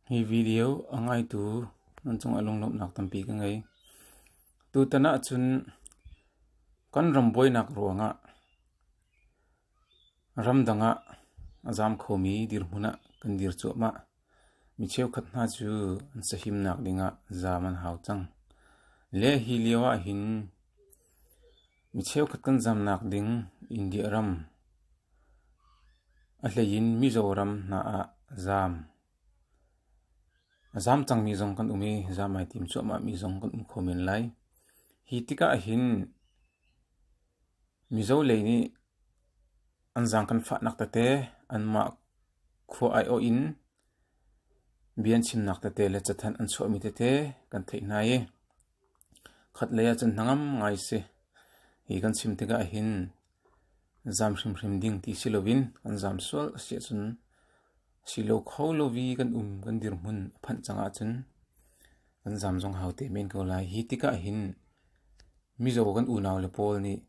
Hi video a ngaitu nan cung ah lunglawmhnak tampi ka ngei. Tutan ahcun kan ram buainak ruang ah ramdang ah a zaam khomi dirhmun ah kan dir cuahmah. Mi cheukhat hna cu an sahimnak ding ah zaam an hau cang. Le hi lio ahhin Mi cheukhat kan zamnak ding India ram, a hleiin Mizoram hna ah zaam. A zaam cangmi zong kan um i zaam ai tim cuahmahmi zong kan um kho men lai. Hi tikah hin Mizo lei nih an zaang kan fahnak tete anmah khua aiawh in bian chimnak tete le cathanh an chuahmi tete kan theih hna i Khatlei ah cun hnangam ngai si i kan chim tikah hin zam hrimhrim ding ti si loin kan zam sual a si ahcun a si lo kho lo i kan um kan dirhmun a phanh cang ahcun kan zam zong hau te men ko lai. Hi tikah hin Mizo kan unau le pawl nih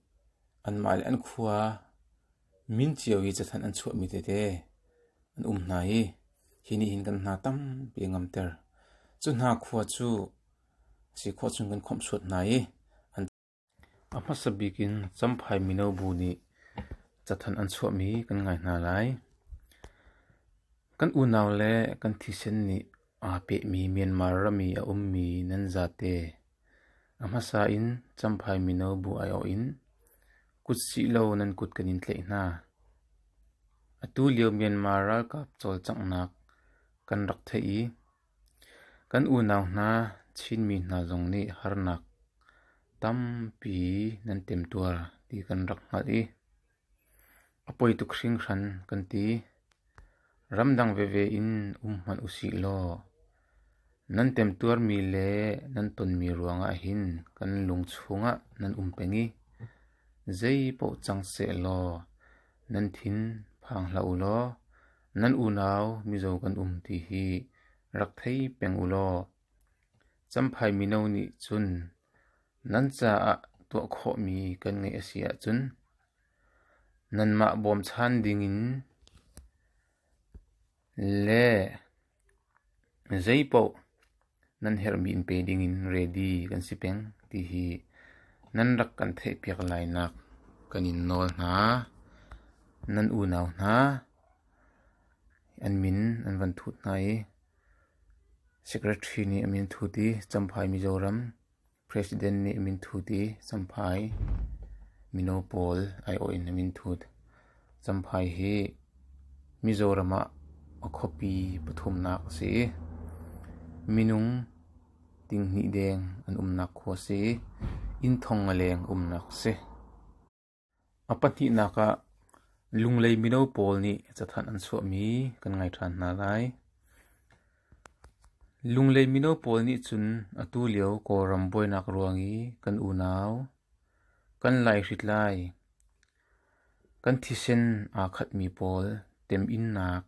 anmah le an khua min cio i cathanh an chuahmi tete an um hna i hi nih hin kan hna tampi a ngamter. Cu hna khua cu Sikhua chung kan khawmh suat hna i a hmasa bik in Champhai mino bu nih cathanh an chuahmi kan ngai hna lai. Kan unau le kan thisen nih aa pehmi Myanmar ram i a ummi nan zate a hmasa in Champhai mino bu aiawh in kut sih law nan kut kan in tlaih hna. Atu lio Myanmar ralkap cawlcanghnak kan rak theih i Kan unau hna Chinmi hna zong nih harnak tampi nan temtuar ti kan rak hngalh i a poi tuk hringhran kan ti. Ramdang veve in um hmanh usih law nan temtuarmi le nan tonmi ruangah hin kan lung chungah nan um peng i zeipaoh cang sehlaw nan thin phang hlah u law Nan unau mizaw kan um ti hi rak thei peng u law Champhai mino nih cun nan caah tuah khawhmi kan ngeih a si ahcun nanmah bawmchan dingin le Zeipaoh nan herhmi in pe dingin ready kan si peng ti hi nan rak kan theihpiak lainak kan in nawl hna. Nan unau hna an min an van thut hna i Secretary nih a min thut i Champhai Mizoram President nih minthut i Champhai mino pawl aiawh in a minthut. Champhai hi Mizoram ah a khuapi pathumnak a si i minung tinghnih deng an umnak khua a si i inn thong a leng umnak a si. A pahnihnak ah Lunglei mino pawl nih cathanh an chuahmi kan ngai ṭhan hna lai. Lunglei mino pawl nih cun atu lio Kawlram buainak ruang i kan unau, kan laihrit lai, kan thisen aa khatmi pawl temhinnak,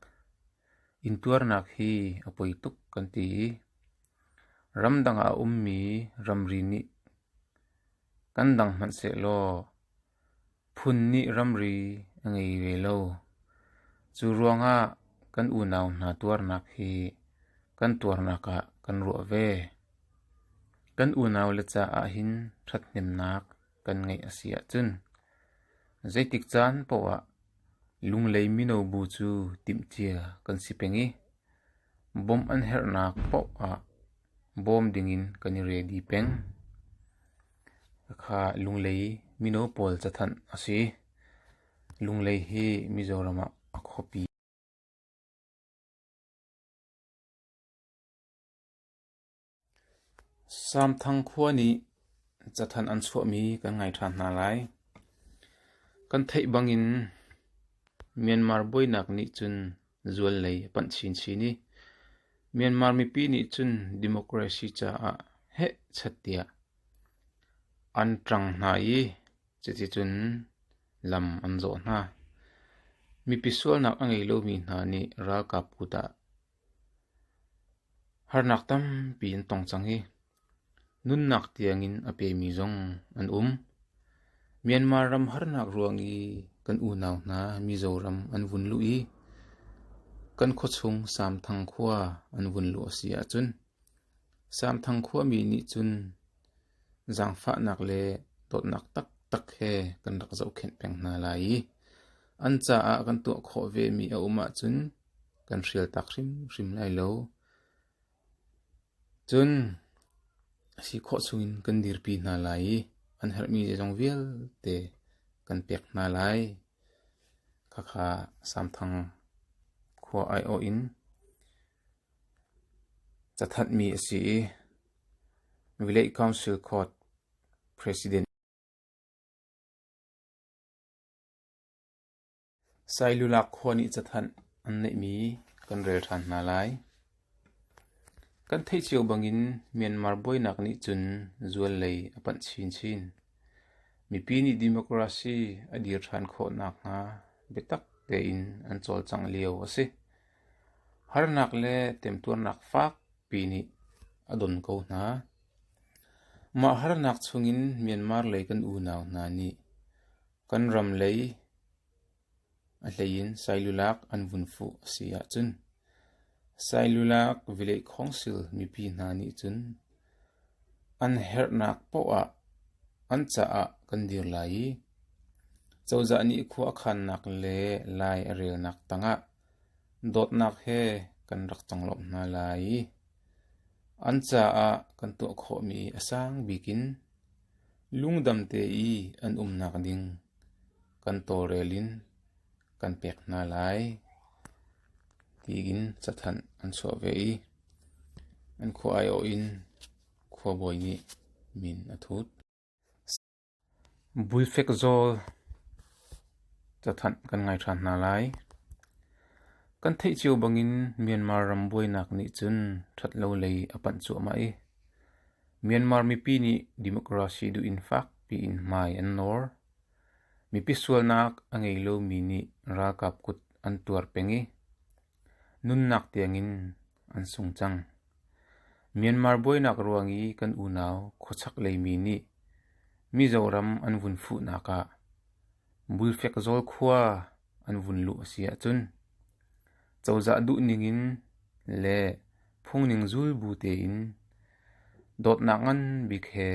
intuarnak hi a poi tuk kan ti i ramdang ah a ummi ramri nih Kan dang hmanhsehlaw phun nih ramri a ngei ve lo. Cu ruangah kan unau hna tuarnak hi kan tuarnak ah kan ruah ve. Kan unaule caah hin ṭhathnemnak kan ngeih a si ahcun zeitik caan poah Lunglei mino bu cu timhcia kan si peng i bawmh an herhnak poah ah bawm dingin kan i rel dih peng. Hakha Lunglei mino pawl cathanh a si. Lunglei hi Mizoram ah a khuapi a si. Samthang khua nih cathanh an chuahmi kan ngai ṭhan hna lai. Kan theih bangin Myanmar buainak nih cun zuallei a panh chinchin i Myanmar mipi nih cun democracy caah heh chat tiah an ṭang hna i cuticun lam an zawh hna. Mipi sualnak a ngei lomi hna nih ralkap kut ah harnak tampi an tong cang i Nunnak tiangin a pemi zong an um. Myanmar ram harnak ruang i kan unau hna Mizoram an vun luh i kan khuachung Samthang khua an vun luh a si ahcun Samthang khuami nih cun zaangfahnak le dawtnak taktak he kan rak zohkhenh peng hna lai i an caah kan tuah khawh vemi a um ahcun kan hrial tak hrimhrim lai lo. Cun a si khawh chungin kan dirpi hna lai i an herhmi zeizong vialte kan pek hna lai. Khakha Samthang khua aiawh in cathatmi a si i Village Council Court President Sailulak khua nih cathanh an neihmi kan rel ṭhan hna lai. Kan theih cio bangin Myanmar buainak nih cun zual lei a panh chinchin. Mipi nih democracy a dir ṭhan khawh nakhnga biatak tein an cawlcangh lio a si. Harnak le temtuarnak fakpi nih a don ko hna. Mah harnak chungin Myanmar lei kan unau hna nih Kan ram lei a hlei in sailulak an vun fuh a si ahcun sailulak vilekhawngsil mipi hna nih cun an herhnak paoh ah an caah kan dir lai i cozah nih khua a khannak le lai a relnak tangah dawtnak he kan rak conglawmh hna lai i an caah kan tuah khawhmi a sang bikin Lungdam te i an umnak ding kan tawlrel in kan pek hna lai, tiin cathanh an chuah ve i an khua aiawh in khuabawi nih min a thut. Bulfek zawl cathanh kan ngai ṭhan hna lai. Kan theih cio bangin Myanmar ram buainak nih cun ṭhat lo lei a panh cuahmah i Myanmar mipi nih democracy duh in fak piin hmai an nawr. Mipi sualnak a ngei lomi nih ralkap kut an tuar peng i nunnak tiangin an sung cang. Myanmar buainak ruang i kan unau khuachaklei mi nih Mizoram an vun fuhnak ah Bulfekzawl khua an vun luh a si ahcun cozah duhning in le phungning zulbu tein dawtnak nganbik he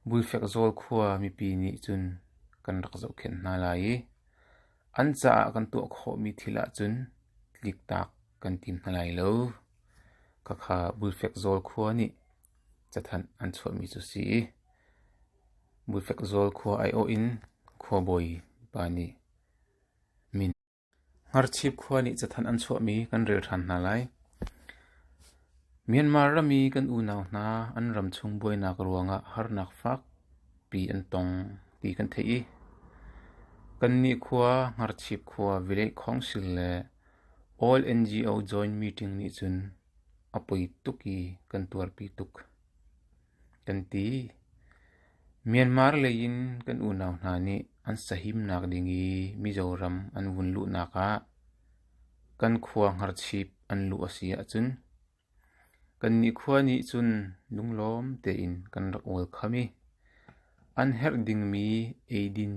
Bulfekzawl khua mipi nih cun kan rak zohkhenh hna lai i an caah kan tuah khawhmi thil ahcun tliktak kan tim hna lai lo. Khakha Bulfekzawl khua nih cathanh an chuahmi cu si. Mufekzawl khua aiawh in khuabawi pa nih min, Ngharchip khua nih cathanh an chuahmi kan rel ṭhan hna lai. Myanmar ram i kan unau hna an ramchung buainak ruangah harnak fakpi an tong ti kan theih i kannih khua Ngharchip khua Village Council le All NGO Joint Meeting nih cun a poi tuk i kan tuarpi tuk. Kan ti. Myanmar leiin kan unau hna nih an sahimnak ding i Mizoram an vun luhnak ah kan khua hngarchip an luh a si ahcun kannih khua nih cun lunglawm tein kan rak ol kham i an herh dingmi eidin,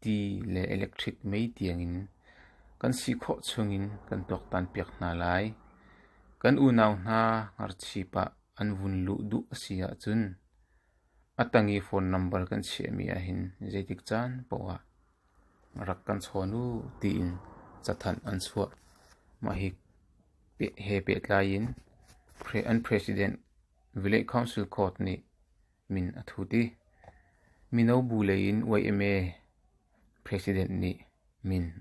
ti le electric mei tiangin kan si khawh chungin kan tuaktan piak hna lai. Kan unau hna hngarchip ah An vun luh duh a si ahcun a tang i phone number kan chiahmi ahhin zeitik caan paohah rak kan chawn u tiin cathanh an chuah. Mah hi he pehtlai in an President Village Council Court nih min a thut i mino bu lei in YMA President nih min a